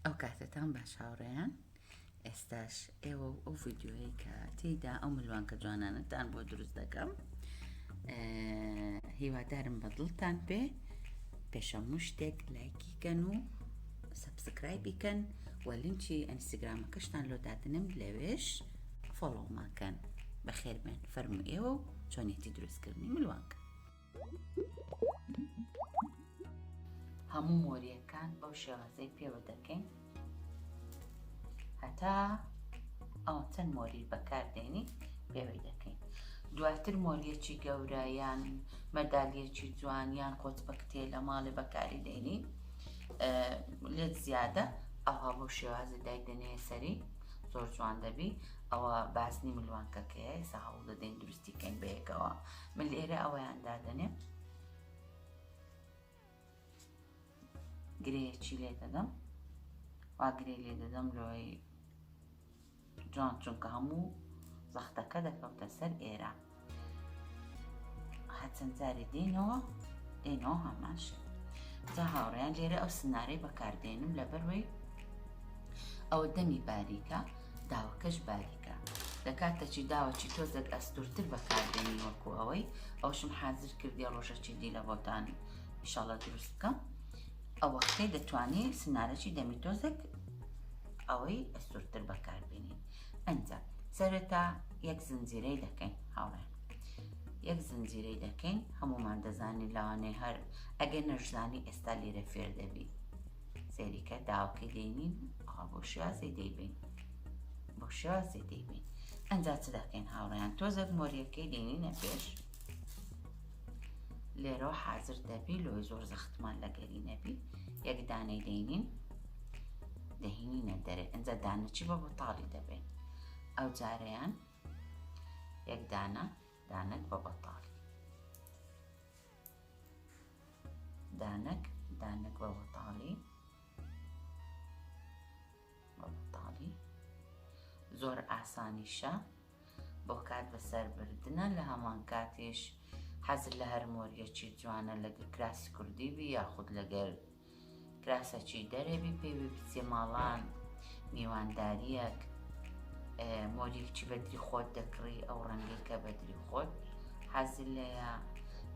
ئەو کاتەتان باش هاوڕێیان ئێستاش ئێوە و ئەو ڤیددیوەیە کە تێیدا ئەو ملوانکە جوانانەتان بۆ دروست دەکەم هیوادارم بە دڵتان پێ پێشە مشتێک لایکی کەن و سبسکرایبی کەن و لینچی ئەنسیگرامەکەشتان لۆ دادنم لەوێش فۆڵۆماکەن بەخێربێن فەرمو ئێوە و چۆنێتی دروستکردنی ملوانکە هەموو مۆریەکان بەو شێوازەی پێوە دەکەین هەتا ئەو چەند مۆری بەکاردێنی پێوەی دەکەین دواتر مۆریەکی گەورە یان مەدالیەکی جوان یان قۆچ بەکتێ لە ماڵێ بەکاری دێنی لێت زیادە ئەوها بۆ شێوازی دایدەنێ سەری زۆر جوان دەبی ئەوە باسنی ملوانکەکەی ساڵ دەدەین دروستیکەین بەیەکەوە من لێرە ئەوەیان دادەنێم گرێیەکی لێ دەدەم وا گرێ لێ دەدەم لۆی جوان چونکە هەموو زەختەکە دەکەوتە سەر ئێرە هەچەند جارێ دێنەوە دێنەوە هەمان شێ جا هاوڕیان لێرە ئەو سنارەی بەکاردێنم لەبەروەی ئەوە دەمی باریکە داوەکەش باریکە لەکاتەچی داوەچی تۆزێک ئەستورتر بەکاردێنی وەکو ئەوەی ئەوشم حازر کردی ڕۆژەچی دی لە بۆتان ئیشاڵە دروست بکەم ئەو وەختەی دەتوانی سنارەی دەمی تۆزێک ئەوەی ئەستورتر بەکاربێنین ئەجا سەرەتا یەک زنجیرەی دەکەین هاوڕێ یەک زنجیرەی دەکەین هەمومان دەزانین لاوانەی هەر ئەگەر نەشزانی ئێستا لێرە فێر دەبی سەیریکە داوەکەی لێ نین ئەوە بۆ شێوازی دەیبین بۆ شێوازی دەیبین ئەجا چ دەکەین هاوڕیان تۆزێک مۆریەکەی دێنینە پێش لێرەوە حازر دەبی لۆی زۆر زەختمان لەگەری نەبی یەکدانەی دەینین دەهینینە دەرێ ئەجا دانەچی بە بەتاڵی دەبێت ئەو جارەیان یەکدانە دانت بە بەتاڵی دانەک دانەک وە وەتاڵی وە وەتاڵی زۆر ئاسانیشە بۆ کات بەسەر بردنە لە هەمان کاتیش حەزر لە هەر مۆریەکی جوانە لەگەر کراسی کوردی بی یاخود لەگەر کراسە چی دەرێ بی پێوی بچێ ماڵان میوانداریەک مۆلیک چی بەدری خۆت دەکڕی ئەو ڕەنگی کە بەدری خۆت حەزل لەیە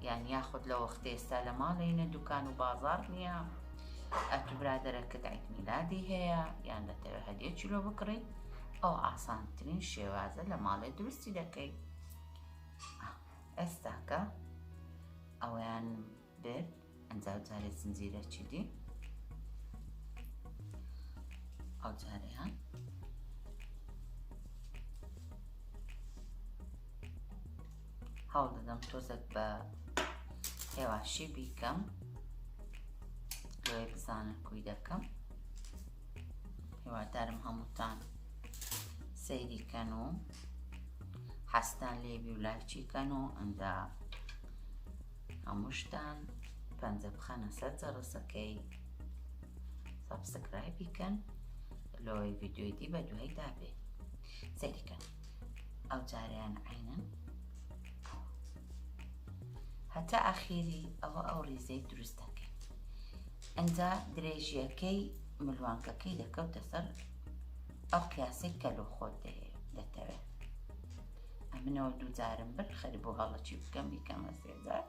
یان یاخود لە وەختە ئێستا لە ماڵێنە دوکان و بازار نییە ئەتو برادەرەکەت ئەیتمیلادی هەیە یان دەتەوێت هەدیە چلۆ بکڕی ئەو ئاسانترین شێوازە لە ماڵێ درستی دەکەیت ئێستاکە ئەویان بێ ئەنجا جارێ زنجیرەکی دی ئەو جارەیان هەوڵ دەدەم تۆزێک بە هێواشی بیکەم لۆی بزانە کوی دەکەم هێوادارم هەمووتان سەیریکەن و حەستان لێبی و لایچیکەن و ئەنجا هەمووشتان پەنجە بخەنە سەر جەڕسەکەی سەبسکرایبی کەن لۆی ڤیددیوی دی بە دوای دابێ سەریکەن ئەو جاریان عینەن هەتا ئاخیری ئەوە ئەو ریزەی دروست دەکەین ئەجا درێژیەکەی ملوانکەکەی دەکەوتە سەر ئەو قیاسی کە لۆ خۆت دەتەوێت ئەمنەوە دووجارم برد خەری بۆ هەڵە چی بکەم بیکەمە سێجار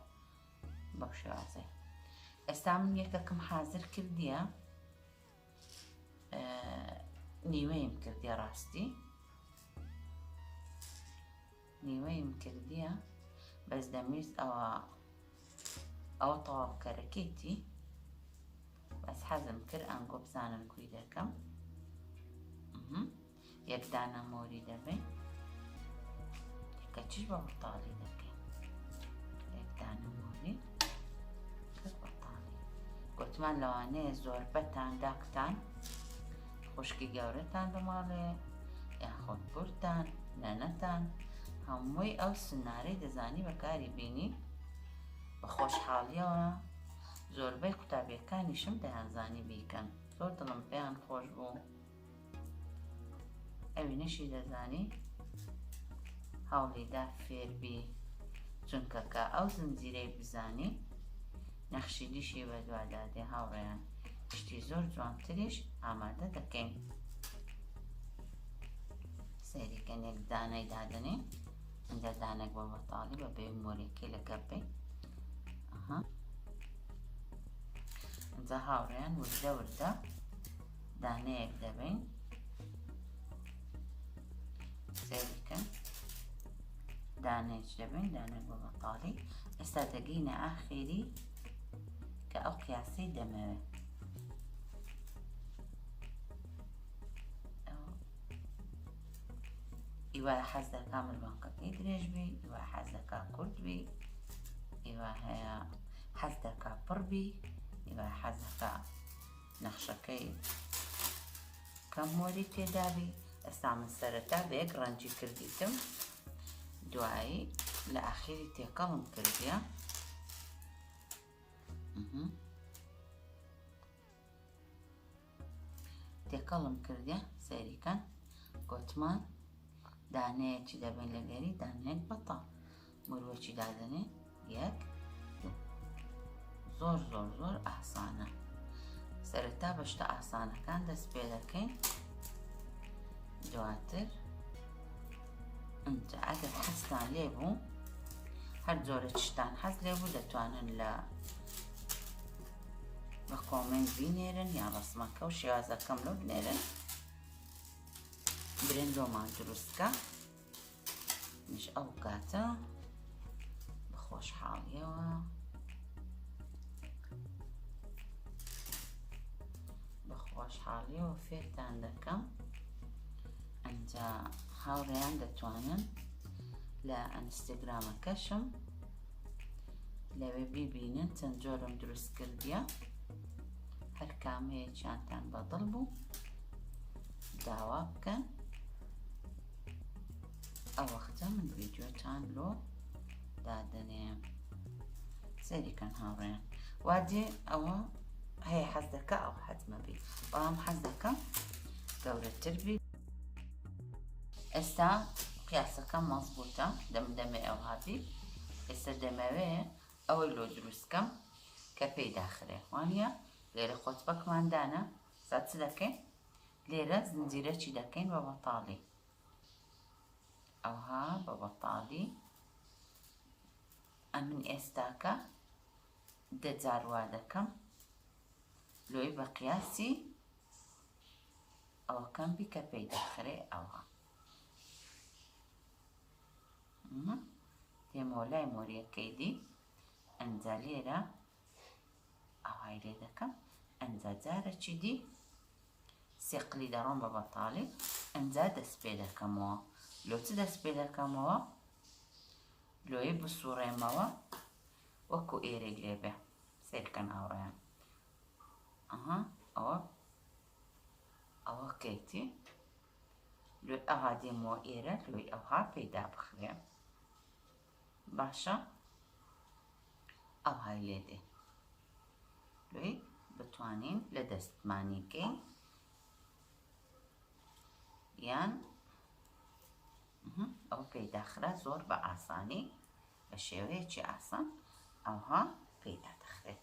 بەو شێوازێ ئێستا من یەکەکەم حازر کردیە نیوەیم کردیە ڕاستی نیوەیم کردیە بەس دەمویست ئەوە ئەو تەواوکەرەکەیتی بەس حەزم کرد ئەنگۆ بزانم کوی دەکەم یەک دانە مۆری دەبەین کەچی بە مڕتاڵی دەکەین یەک دانە مۆری مڕتاڵی گوتمان لەوانەیە زۆر بەتان داکتان خوشکی گەورەتان دەماڵێ یاخۆت بورتان نەنەتان هەمووی ئەو سنارەی دەزانی بەکاری بینی بە خۆشحاڵیەوە زۆربەی قوتابیەکانیشم دەیانزانی بیکەن زۆر دڵم پێیان خۆش بوو ئەوینەشی دەزانی هەوڵیدا فێربی چونکە کە ئەو زنجیرەی بزانی نەخشی دیشی بەدوادا دێ هاوڕێیان شتی زۆر جوانتریش ئامادە دەکەین سەیریکەنێک دانای دادنێ ئەجا دانێک بۆ بەتاڵی بە بێ مۆرێکی لە گەپی ئەها ئەجا هاوڕێیان وردە وردە دانەیەک دەبین سەیرکە دانێک دەبین دانە بۆ بەتاڵی ئێستا دەگەینە ئاخێری کە ئەو قیاسی دەمەوێت ئیوا حەز دەکا مروانکەکەی درێژ بی ئیوا حەز دەکا کورد بی ئیوا هەیە حەز دەکا پڕ بی ئیوا حەز دەکا نەخشەکەی کەم مۆری تێدابی ئێستا من سەرەتا بە یەک ڕەنجی کردیتم دوایی لە ئاخیری تێکەڵم کردە تێکەڵم کردە سەریکەن گۆتمان دانەیەکی دەبێت لەگەری دانەیەک بەتە مروەچی دادەنێ یەک زۆر زۆر زۆر ئاسانە سەرەتا بە شتە ئاسانەکان دەست پێ دەکەین دواتر ئەجا ئەگەر حەستان لێ بوو هەر جۆرە شتان حەز لێ بوو دەتوانن لە بە کۆمنت بینێرن یا ڕسمەکە و شێوازەکەم لە بنێرن برندۆمان دروستکە مش ئەو کاتە بە خۆشحاڵیەوە بە خۆشحاڵیەوە فێرتان دەکەم ئەجا هاوڕێیان دەتوانن لە ئەنستەگرامەکەشم لەوێ بیبینن چەند جۆرم دروست کردیە هەر کامەیەکیانتان بەدڵ بوو داوا بکەن ئەوەختە من ڤیدیۆتان لۆ دادەنێ سەریکەن هاوڕێن وا دێ ئەوە هەیە حەز دەکە ئەو حەزمە بی بەڵام حەز دەکەم گەورەتر بی ئێستا قیاسەکە مەزبووتە دەم دەمێ ئەو هاتی ئێستا دەمەوێ ئەوەی لۆ دروستکەم کە پێی داخرێ وانە لێرە خۆت بەکماندانە ئستا چ دەکەین لێرە زنجیرەکی دەکەین بە بەتاڵی ئەوها بە بەتاڵی ئەمن ئێستاکە دەجار وا دەکەم لۆی بە قیاسی ئەوەکەم بی کە پێی دەخرێ ئەوها تێمۆلای مۆریەکەی دی ئەنجا لێرە ئاوای لێ دەکەم ئەنجا جارەکی دی سێ قلی دەڕۆم بە بەتاڵی ئەنجا دەست پێ دەکەمەوە لۆ چ دەست پێ دەکەمەوە لۆی بسوڕێمەوە وەکو ئێرێک لێ بێ سێرکەن هاوڕێیان ئەها ئەوە ئەوە کەیتی لۆی ئەها دێمەوە ئێرە لۆی ئەوها پێدا بخرێ باشە ئەوهای لێ دێ لۆی بتوانین لە دەستمانی کەین یان ئەو پێداخرا زۆر بە ئاسانی بە شێوەیەکی ئاسان ئەوها پێدا دەخرێت